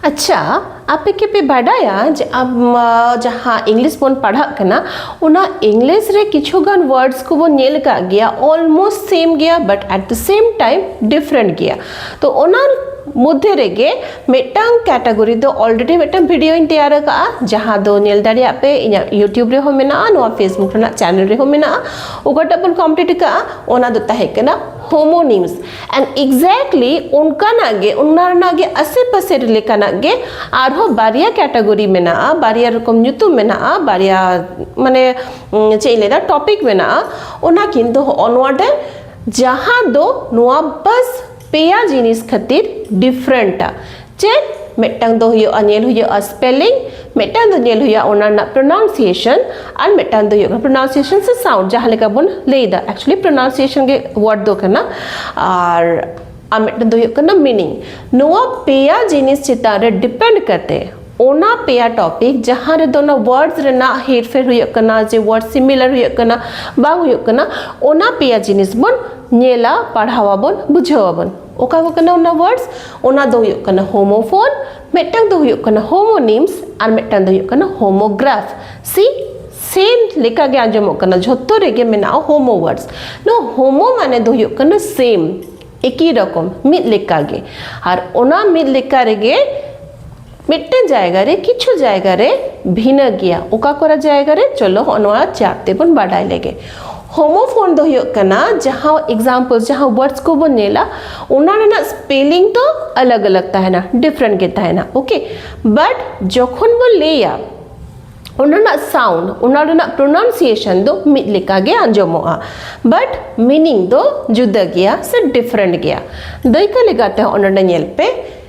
ᱟᱪᱪᱷᱟ ᱟᱯᱮ ᱠᱮᱯᱮ ᱵᱟᱰᱟᱭᱟ ᱡᱮ ᱟᱢ ᱡᱟᱦᱟᱸ ᱤᱝᱞᱤᱥ ᱵᱚᱱ ᱯᱟᱲᱦᱟᱜ ᱠᱟᱱᱟ ᱚᱱᱟ ᱤᱝᱞᱤᱥ ᱨᱮ ᱠᱤᱪᱷᱩ ᱜᱟᱱ ᱣᱟᱨᱰᱥ ᱠᱚᱵᱚᱱ ᱧᱮᱞ ᱟᱠᱟᱫ ᱜᱮᱭᱟ ᱚᱞᱢᱳᱥᱴ ᱥᱮᱢ ᱜᱮᱭᱟ but at the same time different ᱜᱮᱭᱟ ᱛᱚ ᱚᱱᱟ ᱢᱚᱫᱽᱫᱷᱮ ᱨᱮᱜᱮ ᱢᱤᱫᱴᱟᱝ ᱠᱮᱴᱟᱜᱚᱨᱤ ᱫᱚ ᱚᱞᱨᱮᱰᱤ ᱢᱤᱫᱴᱟᱝ ᱵᱷᱤᱰᱤᱭᱳᱧ ᱛᱮᱭᱟᱨ ᱟᱠᱟᱫᱼᱟ ᱡᱟᱦᱟᱸ ᱫᱚ ᱧᱮᱞ ᱫᱟᱲᱮᱭᱟᱜ ᱯᱮ ᱤᱧᱟᱹᱜ ᱤᱭᱩᱴᱤᱭᱩᱵᱽ ᱨᱮᱦᱚᱸ ᱢᱮᱱᱟᱜᱼᱟ ᱱᱚᱣᱟ ᱯᱷᱮᱥᱵᱩᱠ ᱨᱮᱱᱟᱜ ᱪᱮᱱᱮᱞ ᱨᱮᱦᱚᱸ ᱢᱮᱱᱟᱜᱼᱟ ᱚᱠᱟᱴᱟᱜ ᱵᱚᱱ ᱠᱚᱢᱯᱞᱤᱴ ᱟᱠᱟᱫᱼᱟ ᱚᱱᱟ ᱫᱚ ᱛᱟᱦᱮᱸ ᱠᱟᱱᱟ ᱦᱳᱢᱳᱱᱤᱢᱥ ᱮᱱᱰ ᱮᱠᱡᱮᱠᱴᱞᱤ ᱚᱱᱠᱟᱱᱟᱜ ᱜᱮ ᱚᱱᱟ ᱨᱮᱱᱟᱜ ᱜᱮ ᱟᱥᱮ ᱯᱟᱥᱮ ᱞᱮᱠᱟᱱᱟᱜ ᱜᱮ ᱟᱨᱦᱚᱸ ᱵᱟᱨᱭᱟ ᱠᱮᱴᱟᱜᱚᱨᱤ ᱢᱮᱱᱟᱜᱼᱟ ᱵᱟᱨᱭᱟ ᱨᱚᱠᱚᱢ ᱧᱩᱛᱩᱢ ᱢᱮᱱᱟᱜᱼᱟ ᱵᱟᱨᱭᱟ ᱢᱟᱱᱮ ᱪᱮᱫ ᱤᱧ ᱞᱟᱹᱭᱫᱟ ᱴᱚᱯᱤᱠ ᱢᱮᱱᱟᱜᱼᱟ ᱚᱱᱟ ᱠᱤᱱᱛᱩ ᱦᱚᱸᱜᱼᱚ ᱱᱚᱣᱟ ᱰᱮ ᱡᱟᱦᱟᱸ ᱫᱚ ᱱᱚᱣᱟ ᱵᱟᱥ ᱯᱮᱭᱟ ᱡᱤᱱᱤᱥ ᱠᱷᱟᱹᱛᱤᱨ ᱰᱤᱯᱷᱨᱮᱱᱴᱟ ᱪᱮᱫ ᱢᱤᱫᱴᱟᱝ ᱫᱚ ᱦᱩᱭᱩᱜᱼᱟ ᱧᱮᱞ ᱦᱩᱭᱩᱜᱼᱟ ᱥᱯᱮᱞᱤᱝ ᱢᱤᱫᱴᱟᱝ ᱫᱚ ᱧᱮᱞ ᱦᱩᱭᱩᱜᱼᱟ ᱚᱱᱟ ᱨᱮᱱᱟᱜ ᱯᱨᱚᱱᱟᱣᱩᱱᱥᱤᱭᱮᱥᱚᱱ ᱟᱨ ᱢᱤᱫᱴᱟᱝ ᱫᱚ ᱦᱩᱭᱩᱜ ᱠᱟᱱᱟ ᱯᱨᱚᱱᱟᱣᱩᱱᱥᱤᱭᱮᱥᱚᱱ ᱥᱮ ᱥᱟᱣᱩᱱᱰ ᱡᱟᱦᱟᱸ ᱞᱮᱠᱟ ᱵᱚᱱ ᱞᱟᱹᱭᱫᱟ ᱮᱠᱪᱩᱭᱮᱞᱤ ᱯᱨᱚᱱᱟᱣᱩᱱᱥᱤᱭᱮᱥᱚᱱ ᱜᱮ ᱣᱟᱨᱰ ᱫᱚ ᱠᱟᱱᱟ ᱟᱨ ᱟᱨ ᱢᱤᱫᱴᱟᱝ ᱫᱚ ᱦᱩᱭᱩᱜ ᱠᱟᱱᱟ ᱢᱤᱱᱤᱝ ᱱᱚᱣᱟ ᱯᱮᱭᱟ ᱡᱤᱱᱤᱥ ᱪᱮᱛᱟᱱ ᱨᱮ ᱰᱤᱯᱮᱱᱰ ᱠᱟᱛᱮ ᱚᱱᱟ ᱯᱮᱭᱟ ᱴᱚᱯᱤᱠ ᱡᱟᱦᱟᱸ ᱨᱮᱫᱚ ᱚᱱᱟ ᱣᱟᱨᱰ ᱨᱮᱱᱟᱜ ᱦᱮᱨᱯᱷᱮᱨ ᱦᱩᱭᱩᱜ ᱠᱟᱱᱟ ᱡᱮ ᱣᱟᱨᱰ ᱥᱤᱢᱤᱞᱟᱨ ᱦᱩᱭᱩᱜ ᱠᱟᱱᱟ ᱵᱟᱝ ᱦᱩᱭᱩᱜ ᱠᱟᱱᱟ ᱚᱱᱟ ᱯᱮᱭᱟ ᱡᱤᱱᱤᱥ ᱵᱚᱱ ᱧᱮᱞᱟ ᱯᱟᱲᱦᱟᱣ ᱟᱵᱚᱱ ᱵᱩᱡᱷᱟᱹᱣ ᱟᱵᱚᱱ ᱚᱠᱟ ᱠᱚ ᱠᱟᱱᱟ ᱚᱱᱟ ᱣᱟᱨᱰᱥ ᱚᱱᱟ ᱫᱚ ᱦᱩᱭᱩᱜ ᱠᱟᱱᱟ ᱦᱳᱢᱳᱯᱷᱳᱱ ᱢᱤᱫᱴᱟᱝ ᱫᱚ ᱦᱩᱭᱩᱜ ᱠᱟᱱᱟ ᱦᱳᱢᱳᱱᱤᱢᱥ ᱟᱨ ᱢᱤᱫᱴᱟᱝ ᱫᱚ ᱦᱩᱭᱩᱜ ᱠᱟᱱᱟ ᱦᱳᱢᱳᱜᱨᱟᱯᱷ ᱥᱤ ᱥᱮᱢ ᱞᱮᱠᱟ ᱜᱮ ᱟᱸᱡᱚᱢᱚᱜ ᱠᱟᱱᱟ ᱡᱷᱚᱛᱚ ᱨᱮᱜᱮ ᱢᱮᱱᱟᱜᱼᱟ ᱦᱳᱢᱳ ᱣᱟᱨᱰᱥ ᱱᱚᱣᱟ ᱦᱳᱢᱳ ᱢᱟᱱᱮ ᱫᱚ ᱦᱩᱭᱩᱜ ᱠᱟᱱᱟ ᱥᱮᱢ ᱮᱠᱤ ᱨᱚᱠᱚᱢ ᱢᱤᱫ ᱞᱮᱠᱟ ᱜᱮ ᱟᱨ ᱚᱱᱟ ᱢᱤᱫ ᱞᱮᱠᱟ ᱨᱮᱜᱮ ᱢᱤᱫᱴᱮᱱ ᱡᱟᱭᱜᱟ ᱨᱮ ᱠᱤᱪᱷᱩ ᱡᱟᱭᱜᱟ ᱨᱮ ᱵᱷᱤᱱᱟᱹ ᱜᱮᱭᱟ ᱚᱠᱟ ᱠᱚᱨᱮ ᱡᱟᱭᱜᱟ ᱨᱮ ᱪᱚᱞᱚ ᱦᱚᱸᱜᱼᱚ ᱱᱚᱣᱟ ᱪᱟᱨᱴ ᱛᱮᱵᱚᱱ ᱵᱟᱰᱟᱭ ᱞᱮᱜᱮ ᱦᱳᱢᱳᱯᱷᱳᱱ ᱫᱚ ᱦᱩᱭᱩᱜ ᱠᱟᱱᱟ ᱡᱟᱦᱟᱸ ᱮᱠᱡᱟᱢᱯᱚᱞ ᱡᱟᱦᱟᱸ ᱣᱟᱨᱰᱥ ᱠᱚᱵᱚᱱ ᱧᱮᱞᱟ ᱚᱱᱟ ᱨᱮᱱᱟᱜ ᱥᱯᱮᱞᱤᱝ ᱫᱚ ᱟᱞᱟᱜᱽ ᱟᱞᱟᱜᱽ ᱛᱟᱦᱮᱱᱟ ᱰᱤᱯᱷᱨᱮᱱᱴ ᱜᱮ ᱛᱟᱦᱮᱱᱟ ᱳᱠᱮ ᱵᱟᱴ ᱡᱚᱠᱷᱚᱱ ᱵᱚᱱ ᱞᱟᱹᱭᱟ ᱚᱱᱟ ᱨᱮᱱᱟᱜ ᱥᱟᱣᱩᱱᱰ ᱚᱱᱟ ᱨᱮᱱᱟᱜ ᱯᱨᱚᱱᱟᱣᱩᱱᱥᱤᱭᱮᱥᱚᱱ ᱫᱚ ᱢᱤᱫ ᱞᱮᱠᱟ ᱜᱮ ᱟᱸᱡᱚᱢᱚᱜᱼᱟ ᱵᱟᱴ ᱢᱤᱱᱤᱝ ᱫᱚ ᱡᱩᱫᱟᱹ ᱜᱮᱭᱟ ᱥᱮ ᱰᱤᱯᱷᱨᱮᱱᱴ ᱜᱮᱭᱟ ᱫᱟᱹᱭᱠᱟᱹ ᱞᱮᱠᱟᱛᱮ ᱦᱚᱸᱜᱼᱚ ᱱᱚᱰᱮ ᱧᱮᱞ ᱯᱮ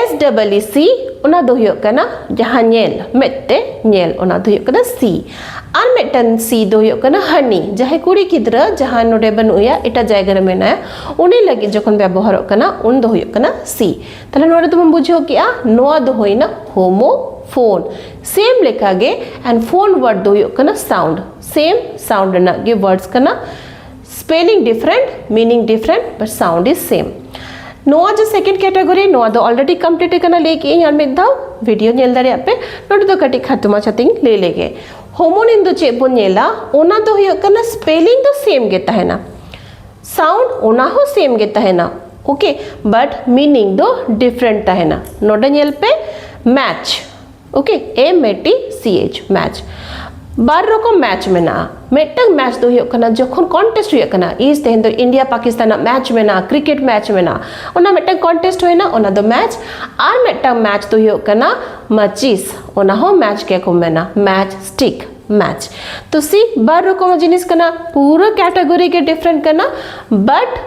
ᱮᱥ ᱰᱟᱵᱚᱞ ᱤ ᱥᱤ ᱚᱱᱟ ᱫᱚ ᱦᱩᱭᱩᱜ ᱠᱟᱱᱟ ᱡᱟᱦᱟᱸ ᱧᱮᱞ ᱢᱮᱫ ᱛᱮ ᱧᱮᱞ ᱚᱱᱟ ᱫᱚ ᱦᱩᱭᱩᱜ ᱠᱟᱱᱟ ᱥᱤ ᱟᱨ ᱢᱤᱫᱴᱟᱝ ᱥᱤ ᱫᱚ ᱦᱩᱭᱩᱜ ᱠᱟᱱᱟ ᱦᱟᱹᱱᱤ ᱡᱟᱦᱟᱸᱭ ᱠᱩᱲᱤ ᱜᱤᱫᱽᱨᱟᱹ ᱡᱟᱦᱟᱸᱭ ᱱᱚᱰᱮ ᱵᱟᱹᱱᱩᱜᱮᱭᱟ ᱮᱴᱟᱜ ᱡᱟᱭᱜᱟ ᱨᱮ ᱢᱮᱱᱟᱭᱟ ᱩᱱᱤ ᱞᱟᱹᱜᱤᱫ ᱡᱚᱠᱷᱚᱱ ᱵᱮᱵᱚᱦᱟᱨᱚᱜ ᱠᱟᱱᱟ ᱩᱱ ᱫᱚ ᱦᱩᱭᱩᱜ ᱠᱟᱱᱟ ᱥᱤ ᱛᱟᱦᱞᱮ ᱱᱚᱰᱮ ᱫᱚᱵᱚᱱ ᱵᱩᱡᱷᱟᱹᱣ ᱠᱮᱜᱼᱟ ᱱᱚᱣᱟ ᱫᱚ ᱦᱩᱭᱱᱟ ᱦᱳᱢᱳ ᱯᱷᱳᱱ ᱥᱮᱢ ᱞᱮᱠᱟᱜᱮ ᱮᱱᱰ ᱯᱷᱳᱱ ᱣᱟᱨᱰ ᱫᱚ ᱦᱩᱭᱩᱜ ᱠᱟᱱᱟ ᱥᱟᱣᱩᱱᱰ ᱥᱮᱢ ᱥᱟᱣᱩᱱᱰ ᱨᱮᱱᱟᱜ ᱜᱮ ᱣᱟᱨᱰᱥ ᱠᱟᱱᱟ spelling different meaning different but sound is same ᱱᱚᱣᱟ ᱡᱮ ᱥᱮᱠᱮᱱᱰ ᱠᱮᱴᱟᱜᱚᱨᱤ ᱱᱚᱣᱟ ᱫᱚ ᱚᱞᱨᱮᱰᱤ ᱠᱚᱢᱯᱞᱤᱴ ᱟᱠᱟᱱᱟ ᱞᱟᱹᱭ ᱠᱮᱜ ᱤᱧ ᱟᱨ ᱢᱤᱫ ᱫᱷᱟᱣ ᱵᱷᱤᱰᱤᱭᱳ ᱧᱮᱞ ᱫᱟᱲᱮᱭᱟᱜ ᱯᱮ ᱱᱚᱰᱮ ᱫᱚ ᱠᱟᱹᱴᱤᱡ ᱠᱷᱟᱴᱚ ᱢᱟᱪᱷᱟᱛᱮᱧ ᱞᱟᱹᱭ ᱞᱮᱜᱮ ᱦᱳᱢᱳᱱᱤᱢ ᱫᱚ ᱪᱮᱫ ᱵᱚᱱ ᱧᱮᱞᱟ ᱚᱱᱟ ᱫᱚ ᱦᱩᱭᱩᱜ ᱠᱟᱱᱟ ᱥᱯᱮᱞᱤᱝ ᱫᱚ ᱥᱮᱢ ᱜᱮ ᱛᱟᱦᱮᱱᱟ ᱥᱟᱣᱩᱱᱰ ᱚᱱᱟ ᱦᱚᱸ ᱥᱮᱢ ᱜᱮ ᱛᱟᱦᱮᱱᱟ ᱳᱠᱮ ᱵᱟᱴ ᱢᱤᱱᱤᱝ ᱫᱚ ᱰᱤᱯᱷᱨᱮᱱᱴ ᱛᱟᱦᱮᱱᱟ ᱱᱚᱰᱮ ᱧᱮᱞ ᱯᱮ ᱢᱮᱪ ᱳᱠᱮ ᱮ ᱢᱮᱴᱤ ᱥᱤ ᱮᱪ ᱢᱮᱪ ᱵᱟᱨ ᱨᱚᱠᱚᱢ ᱢᱮᱪ ᱢᱮᱱᱟᱜᱼᱟ ᱢᱤᱫᱴᱟᱝ ᱢᱮᱪ ᱫᱚ ᱦᱩᱭᱩᱜ ᱠᱟᱱᱟ ᱡᱚᱠᱷᱚᱱ ᱠᱚᱱᱴᱮᱥᱴ ᱦᱩᱭᱩᱜ ᱠᱟᱱᱟ ᱤᱥ ᱛᱮᱦᱮᱧ ᱫᱚ ᱤᱱᱰᱤᱭᱟ ᱯᱟᱠᱤᱥᱛᱟᱱᱟᱜ ᱢᱮᱪ ᱢᱮᱱᱟᱜᱼᱟ ᱠᱨᱤᱠᱮᱴ ᱢᱮᱪ ᱢᱮᱱᱟᱜᱼᱟ ᱚᱱᱟ ᱢᱤᱫᱴᱟᱝ ᱠᱚᱱᱴᱮᱥᱴ ᱦᱩᱭᱱᱟ ᱚᱱᱟ ᱫᱚ ᱢᱮᱪ ᱟᱨ ᱢᱤᱫᱴᱟᱝ ᱢᱮᱪ ᱫᱚ ᱦᱩᱭᱩᱜ ᱠᱟᱱᱟ ᱢᱟᱪᱤᱥ ᱚᱱᱟ ᱦᱚᱸ ᱢᱮᱪ ᱜᱮᱠᱚ ᱢᱮᱱᱟ ᱢᱮᱪ ᱥᱴᱤᱠ ᱢᱮᱪ ᱛᱚ ᱥᱤ ᱵᱟᱨ ᱨᱚᱠᱚᱢ ᱡᱤᱱᱤᱥ ᱠᱟᱱᱟ ᱯᱩᱨᱟᱹ ᱠᱮᱴᱟᱜᱚᱨᱤ ᱜᱮ ᱰᱤᱯᱷᱟᱨᱮᱱᱴ ᱠᱟᱱᱟ ᱵᱟᱴ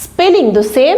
ᱥᱯᱮᱞᱤᱝ ᱫᱚ ᱥᱮᱢ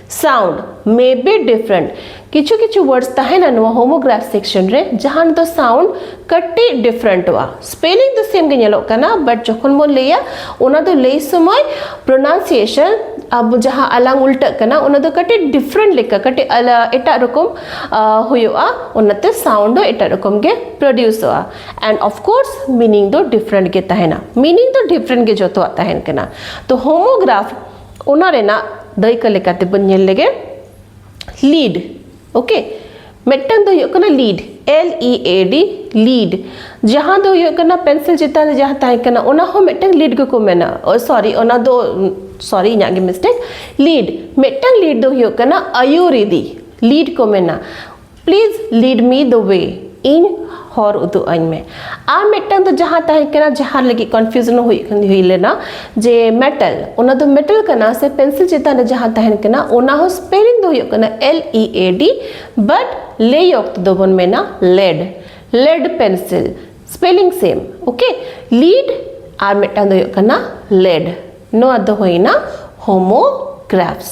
ᱥᱟᱣᱩᱱᱰ ᱢᱮ ᱵᱤ ᱰᱤᱯᱷᱨᱮᱱᱴ ᱠᱤᱪᱷᱩ ᱠᱤᱪᱷᱩ ᱣᱟᱨᱰᱥ ᱛᱟᱦᱮᱱᱟ ᱱᱚᱣᱟ ᱦᱳᱢᱳᱜᱨᱟᱯᱷ ᱥᱮᱠᱥᱚᱱ ᱨᱮ ᱡᱟᱦᱟᱸ ᱫᱚ ᱥᱟᱣᱩᱱᱰ ᱠᱟᱹᱴᱤᱡ ᱰᱤᱯᱷᱨᱮᱱᱴᱚᱜᱼᱟ ᱥᱯᱮᱞᱤᱝ ᱫᱚ ᱥᱮᱢ ᱜᱮ ᱧᱮᱞᱚᱜ ᱠᱟᱱᱟ ᱵᱟᱴ ᱡᱚᱠᱷᱚᱱ ᱵᱚᱱ ᱞᱟᱹᱭᱟ ᱚᱱᱟ ᱫᱚ ᱞᱟᱹᱭ ᱥᱚᱢᱚᱭ ᱯᱨᱚᱱᱟᱣᱱᱥᱤᱭᱮᱥᱚᱱ ᱟᱵᱚ ᱡᱟᱦᱟᱸ ᱟᱞᱟᱝ ᱩᱞᱴᱟᱹᱜ ᱠᱟᱱᱟ ᱚᱱᱟ ᱫᱚ ᱠᱟᱹᱴᱤᱡ ᱰᱤᱯᱷᱨᱮᱱᱴ ᱞᱮᱠᱟ ᱠᱟᱹᱴᱤᱡ ᱮᱴᱟᱜ ᱨᱚᱠᱚᱢ ᱦᱩᱭᱩᱜᱼᱟ ᱚᱱᱟᱛᱮ ᱥᱟᱣᱩᱱᱰ ᱫᱚ ᱮᱴᱟᱜ ᱨᱚᱠᱚᱢ ᱜᱮ ᱯᱨᱚᱰᱤᱭᱩᱥᱚᱜᱼᱟ ᱮᱱᱰ ᱚᱯᱷ ᱠᱳᱨᱥ ᱢᱤᱱᱤᱝ ᱫᱚ ᱰᱤᱯᱷᱨᱮᱱᱴ ᱜᱮ ᱛᱟᱦᱮᱱᱟ ᱢᱤᱱᱤᱝ ᱫᱚ ᱰᱤᱯᱷᱨᱮᱱᱴ ᱜᱮ ᱡᱚᱛᱚᱣᱟᱜ ᱛᱟᱦᱮᱱ ᱠᱟᱱᱟ ᱛᱚ ᱦᱳᱢᱳᱜᱨᱟᱯᱷ ᱚᱱᱟ ᱨᱮᱱᱟᱜ ᱫᱟᱹᱭᱠᱟᱹ ᱞᱮᱠᱟ ᱛᱮᱵᱚᱱ ᱧᱮᱞ ᱞᱮᱜᱮ ᱞᱤᱰ ᱳᱠᱮ ᱢᱤᱫᱴᱟᱝ ᱫᱚ ᱦᱩᱭᱩᱜ ᱠᱟᱱᱟ lead L E A D lead ᱡᱟᱦᱟᱸ ᱫᱚ ᱦᱩᱭᱩᱜ ᱠᱟᱱᱟ ᱯᱮᱱᱥᱤᱞ ᱪᱮᱛᱟᱱ ᱨᱮ ᱡᱟᱦᱟᱸ ᱛᱟᱦᱮᱸ ᱠᱟᱱᱟ ᱚᱱᱟ ᱦᱚᱸ ᱢᱤᱫᱴᱟᱝ ᱞᱤᱰ ᱜᱮᱠᱚ ᱢᱮᱱᱟ ᱥᱚᱨᱤ ᱚᱱᱟ ᱫᱚ ᱥᱚᱨᱤ ᱤᱧᱟᱹᱜ ᱜᱮ ᱢᱤᱥᱴᱮᱠ ᱞᱤᱰ ᱢᱤᱫᱴᱟᱝ ᱞᱤᱰ ᱫᱚ ᱦᱩᱭᱩᱜ ᱠᱟᱱᱟ ᱟᱹᱭᱩᱨᱤᱫᱤ ᱞᱤᱰ ᱠᱚ ᱢᱮᱱᱟ ᱯᱞᱤᱡᱽ ᱞᱤᱰ ᱢᱤ ᱫᱚ ᱣᱮ ᱤᱧ ᱦᱚᱨ ᱩᱫᱩᱜ ᱟᱹᱧ ᱢᱮ ᱟᱨ ᱢᱤᱫᱴᱟᱝ ᱫᱚ ᱡᱟᱦᱟᱸ ᱛᱟᱦᱮᱸ ᱠᱟᱱᱟ ᱡᱟᱦᱟᱸ ᱞᱟᱹᱜᱤᱫ ᱠᱚᱱᱯᱷᱤᱭᱩᱡᱱ ᱦᱩᱭ ᱦᱩᱭ ᱞᱮᱱᱟ ᱡᱮ ᱢᱮᱴᱟᱞ ᱚᱱᱟ ᱫᱚ ᱢᱮᱴᱟᱞ ᱠᱟᱱᱟ ᱥᱮ ᱯᱮᱱᱥᱤᱞ ᱪᱮᱛᱟᱱ ᱨᱮ ᱡᱟᱦᱟᱸ ᱛᱟᱦᱮᱸ ᱠᱟᱱᱟ ᱚᱱᱟ ᱦᱚᱸ ᱥᱯᱮᱞᱤᱝ ᱫᱚ ᱦᱩᱭᱩᱜ ᱠᱟᱱᱟ L E A D but ᱞᱟᱹᱭ ᱚᱠᱛᱚ ᱫᱚᱵᱚᱱ ᱢᱮᱱᱟ lead lead pencil spelling same okay lead ᱟᱨ ᱢᱤᱫᱴᱟᱝ ᱫᱚ ᱦᱩᱭᱩᱜ ᱠᱟᱱᱟ ᱞᱮᱰ ᱱᱚᱣᱟ ᱫᱚ ᱦᱩᱭᱱᱟ ᱦᱳᱢᱳᱜᱨᱟᱯᱷᱥ